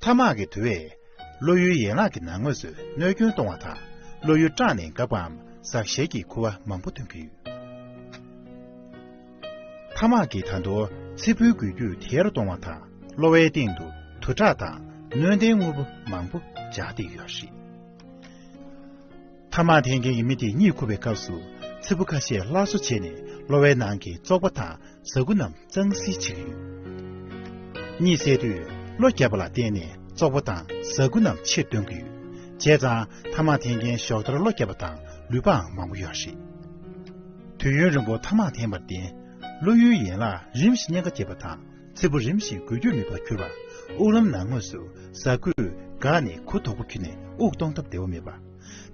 ཐ་མག་གི་དུ་བས་གློ་ཡུའི་ཡན་ལག་གི་ནང་ངོས་སུ་གནོད་སྐྱོན་གཏོང་བ་དང་གློ་ཡུ་སྐྲངས་ནས་འགག་པའམ་ཟག་ཤེས་ཀྱི་ཁུ་བ་མང་པོ་ཐོན་གྱི་ཡོད། ཐ་མག་གི་ད་དུ་ཚིལ་བུའི་འགུལ་སྐྱོད་དེ་ཡར་གཏོང་བ་དང་གློ་བའི་སྟེང་དུ་དུར་ཁྲག་དང་གནོད་ལྡན་དངོས་པོ་མང་པོ་འཇགས་ཏེ་ཡོད་རེད། ཐ་མག་འཐེན་མཁན་གྱི་མི་དེ་གཉིད་ཁུག་པའི་སྐབས་སུ་ཚིལ་བུ་ཁ་ཤས་སླར་གསོ་བྱས་ནས་གློ་བའི་ནང་གི་བཙོག་པ་དང་ཟ་ཁུ་རྣམས་གཙང་བསིལ་བྱེད་ཀྱི་ཡོད། གཉིད་སད་དུས་གློ་རྒྱག་པ་ལ་བརྟེན་ནས་བཙོག་པ་དང་ཟ་ཁུ་རྣམས་ཕྱིར་བཏོན་གྱི་ཡོད། བྱས་ཙང་ཐ་མག་འཐེན་མཁན་ཞོགས་ལྟར་གློ་རྒྱག་པ་དང་ལུས་པའང་མང་པོ་ཡོད་རེད། དུས་ཡུན་རིང་པོ་ཐ་མག་འཐེན་པར་བརྟེན་གློ་ཡུའི་ཡན་ལག་རིམ་བཞིན་གཉན་ཁ་སྐྱེས་པ་དང་ཚིལ་བུ་རིམ་བཞིན་འགུལ་སྐྱོད་མེད་པར་གྱུར་པ། དབུགས་ལམ་ནང་ངོས་སུ་ཟ་ཁུས་འགགས་ནས་ཁུ་དོག་པོ་འཁྱུད་ནས་དབུགས་གཏོང་ཐབས་བདེ་བོ་མེད་པ།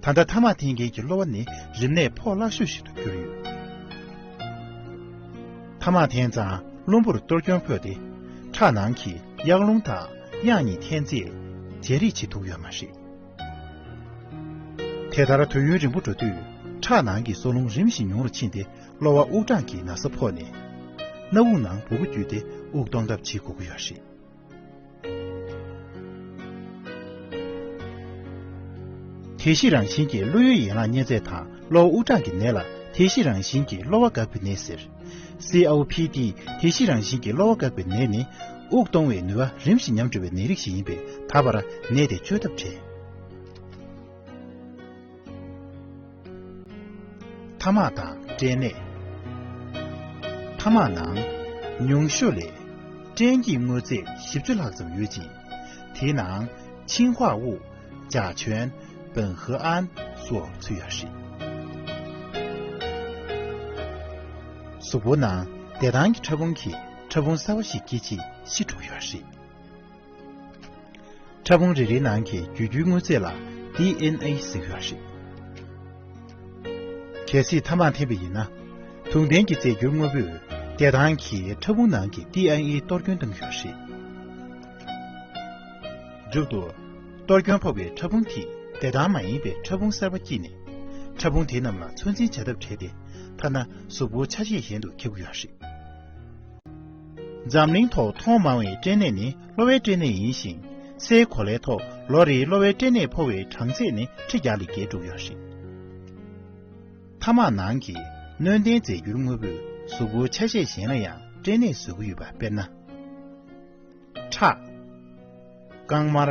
ད་ལྟ་ཐ་མག་འཐེན་མཁན་གྱི་གློ་བ་ནི་རིམས་ནད་ཕོག་སླ་ཤོས་ཤིག་ཏུ་གྱུར་ཡོད། ཐ་མག་འཐེན་ཙང་རླུང་བུར་གཏོར་སྐྱོན་ཕོག་སྟེ། ཁྲག་ནང་གི་གཡག་རླུང་དང་གཡག་གཉིས་འཐེན་རྩིས་བརྗེ་རེས་བྱེད་ཐུབ་ཡོད་མ་རེད། དེ་ལྟར་དུས་ཡུན་རིང་པོ་འགྲོ་དུས་ཁྲག་ནང་གི་སྲོག་རླུང་རིམ་བཞིན་ཉུང་རུ་ཕྱིན་ཏེ་གློ་བ་དབུགས་གྲང་གི་ན་ཚ་ཕོག་ནས། སྣ་བུག་ནང་སྦུ་གུ་བརྒྱུད་དེ་དབུགས་གཏོང་ཐབས་བྱེད་དགོས་ཀྱི་ཡོད་རེད། དེ་བཞི་རང་བཞིན་གྱིས་གློ་ཡུལ་ཡན་ལག་གཉན་ཚད་དང་གློ་བ་དབུགས་གྲང་གི་ནད་ལ་དེ་བཞི་རང་བཞིན་གྱིས་གློ་བ་འགག་པའི་ནད་ཟེར། COPD། དེ་བཞི་རང་བཞིན་གྱིས་གློ་བ་འགག་པའི་ནད་ནི། དབུགས་གཏོང་བའི་ནུས་པ་རིམ་བཞིན་ཉམས་འགྲོ་བའི་ནད་རིགས་ཤིག་ཡིན་པས་ད་བར་ནད་དེ་བཅོས་ཐབས་བྲལ། ཐ་མག་དང་སྐྲན་ནད། ཐ་མག་ནང། ཉུང་ཤོས་ལས། སྐྲན་གྱི་དངོས་རྫས་བཞི་བཅུ་ལྷག་ཙམ་ཡོད་ཅིང། དེའི་ནང། ཆིང་ཧྭ་དབུགས། ཅཱ་ཆོན། པིན་ཧེ་ཨན། སོགས་ཚུད་ཡག་ཧྲི། གཟུགས་པོ་ནང་བདེ་ཐང་གི་ཕྲ་ཕུང་གིས་ཕྲ་ཕུང་གསར་བ་ཞིག་སྐྱེད་ཆེད་ཤི་འགྲོ་ཡག་ཧྲི། ཕྲ་ཕུང་རེ་རེའི་ནང་གི་རྒྱུད་རྒྱུའི་དངོས་རྫས་ལ DNA ཟེར་ཡོད་རེད། གལ་སྲིད་ཐ་མག་འཐེན་པ་ཡིན་ན། དུག་ལྡན་གྱི་རྫས་འགྱུར་དངོས་པོས་བདེ་ཐང་གི་ཕྲ་ཕུང་ནང་གི DNA གཏོར་སྐྱོན་བཏང་ཡོད་རེད། མཇུག་ཏུ། གཏོར་སྐྱོན་ཕོག་པའི་ཕྲ་ཕུང་དེས་བདེ་ཐང་མ་ཡིན་པའི་ཕྲ་ཕུང་གསར་པ་བསྐྱིས་ནས། ཕྲ་ཕུང་དེ་རྣམས་ལ་ཚོད་འཛིན་བྱ་ཐབས་བྲལ་ཏེ་ཐ་ན་གཟུགས་པོ་ཆ་ཤས་གཞན་དུ་ཁྱབ་ཀྱི་ཡོད་རེད། འཛམ་གླིང་ཐོག་མཐོང་མང་བའི་སྐྲན་ནད་ནི་གློ་བའི་སྐྲན་ནད་ཡིན་ཞིང། སའི་གོ་ལའི་ཐོག་ལོ་རེའི་གློ་བའི་སྐྲན་ནད་ཕོག་བའི་གྲངས་ཚད་ནི་ཁྲི་བརྒྱ་ལས་བརྒལ་འགྲོ་གི་ཡོད་རེད། ཐ་མག་ནང་གི་སྣོད་ལྡན་རྫས་འགྱུར་དངོས་པོས་གཟུགས་པོའི་ཆ་ཤས་གཞན་ལ་ཡང་སྐྲན་ནད་བཟོ་གི་ཡོད་པ་དཔེར་ན། ཁྲག། རྐང་དམར།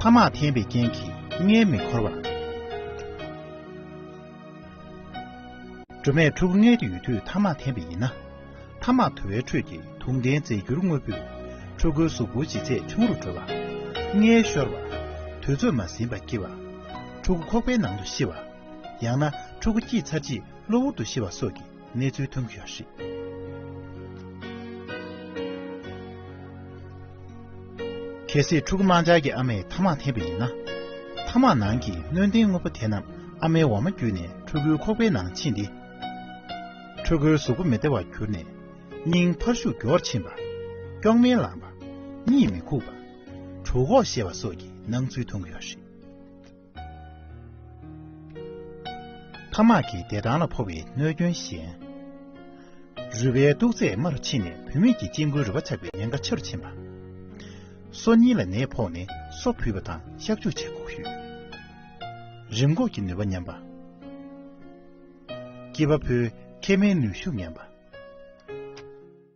ཐ་མག་འཐེན་པའི་རྐྱེན་གྱིས་མངལ་མི་འཁོར་བ། སྒྲོལ་མས་ཕྲུ་གུ་མངལ་དུ་ཡོད་དུས་ཐ་མག་འཐེན་པས་ཡིན་ན། ཐ་མག་དུ་བའི་ཁྲོད་ཀྱི་དུག་ལྡན་རྫས་འགྱུར་དངོས་པོས་ཕྲུ་གུའི་གཟུགས་པོ་ལྗིད་ཚད་ཆུང་རུ་འགྲོ་བ། མངལ་ཤོར་བ། དུས་ཚོད་མ་ཟིན་པ་སྐྱེ་བ། ཕྲུ་གུ་ཁོག་པའི་ནང་དུ་ཤི་བ། ཡང་ན་ཕྲུ་གུ་སྐྱེས་ཚར་རྗེས་གློ་བུར་དུ་ཤི་བ་སོགས་ཀྱི་གནས་ཚུལ་ཐོན་གྱི་ཡོད་རེད། གལ་སྲིད་ཕྲུ་གུ་དམངས་འཆར་གྱི་ཨ་མས་ཐ་མག་འཐེན་པ་ཡིན་ན། ཐ་མག་ནང་གི་སྣོན་ལྡན་དངོས་པོ་དེ་རྣམས་ཨ་མའི་འོ་མ་བརྒྱུད་ནས་ཕྲུ་གུའི་ཁོག་པའི་ནང་ཕྱིན་ཏེ། ཕྲུ་གུའི་གཟུགས་པོ་མི་བདེ་བར་གྱུར་ནས། སྙིང་འཕར་ཤུགས་མགྱོགས་ཕྱིན་པ། སྐྱོགས་སྨན་ལངས་པ། གཉིད་མི་ཁུག་པ། གྲུ་ཁོག་བཤལ་བ་སོགས་ཀྱི་སྣང་ཚུལ་ཐོན་གྱི་ཡོད་རེད། ཐ་མག་གི་བདེ་ཐང་ལ་ཕོག་པའི་གནོད་སྐྱོན་གཞན། རུས་པའི་སྟུག་ཚད་དམའ་རུ་ཕྱིན་ནས་བུད་མེད་ཀྱི་སྐྱེ་དགུའི་རུས་པ་ཆག་པའི་ཉེན་ཁ་ཆེ་རུ་ཕྱིན་པ། སོ་གཉིས་ལ་ནད་ཕོག་ནས་སོ་བུད་པ་དང་གཤག་བཅོས་བྱེད་ཁོག་ཞུས། རིམས་འགོག་གི་ནུས་པ་ཉམས་པ། སྐྱེས་པ་ཕོའི་མཁལ་མའི་ནུས་ཤུགས་ཉམས་པ།